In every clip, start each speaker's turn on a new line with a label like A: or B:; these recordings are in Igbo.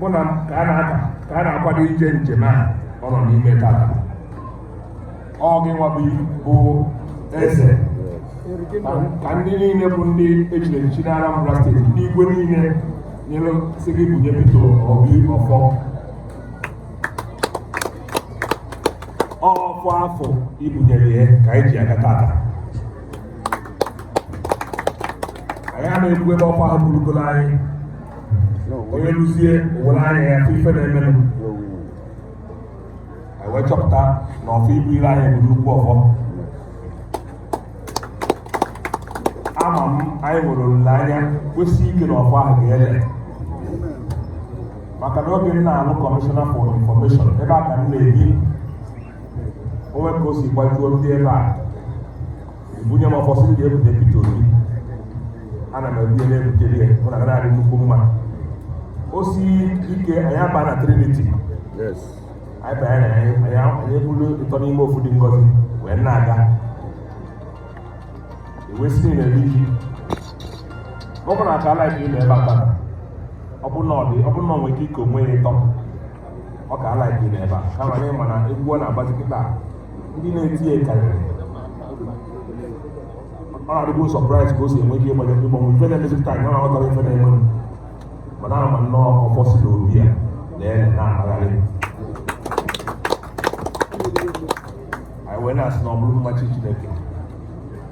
A: mụ na ka a na-aka ka a na-akwado ije njem a ọ nọ n'ime tata ọ gị nwa bụ bụ eze ka ndị niile bụ ndị e chiri echichi na Anambra steeti ndị igwe niile nyere sị gị bunye Peter Obi ọfọ ọfọ afụ i bunyere ya ka anyị ji aga tata anyị a na-ekwu ebe ọfọ ahụ burugoro anyị onye ruzie o were anya ya afụ ife na-emenụ wee chọpụta na ọfọ i bunyere anyị bụ nnukwu ọfọ ama m anyị nwere olileanya kwụsị ike na ọfọ ahụ ga-ele maka na oge m na-alụ Commissioner for Information ebe a ka m na-ebi o nwe ka o si gbajuo ndị ebe a bunye m ọfọ sị m ga-ebute Peter Obi ana m ebunye na-ebutere ya mụ na ya na-adị nnukwu mma o si ike anyị aba na Trinity anyị banye na anyị anyị ebulu ịtọ n'ime ofu dị ngọzi wee na-aga ewesị na-eri ji ọ bụrụ na aka ala ebe ebe a ọ bụ na ọ dị ọ bụ na ọ nwere ike ike onwe ya ịtọ ọ ka ala gị n'ebe a kama na ị ma na egwu ọ na-agbazi kịta ndị na-eti ya karịrị ọ na-adịgbu surprise ka o si enwe ike ịgbanye ndị mmanwụ ife na-emezi kịta anyị aghọtarọ ife na-eme mana ama nnọọ ọfọ si n'obi ya na ya na-akpagharị anyị wee na-asị na ọ bụrụ mmachi Chineke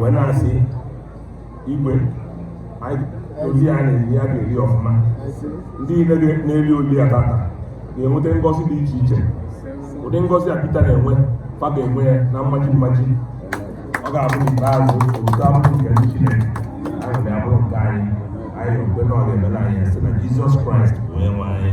A: wee na-asị igwe ozi a na-eri ya ga-eri ọfụma ndị niile na-eri oli a tata na-enweta ngọzi dị iche iche ụdị ngọzi a Peter na-enwe fa ga-enwe ya na mmaji mmaji ọ ga-abụ n'ikpeazụ obodo abụrụ nke ndị Chineke ahụ ga-abụrụ nke anyị anyị ekwe na ọ ga-emelụ anyị si na Jizọs Kraịst onye nwe anyị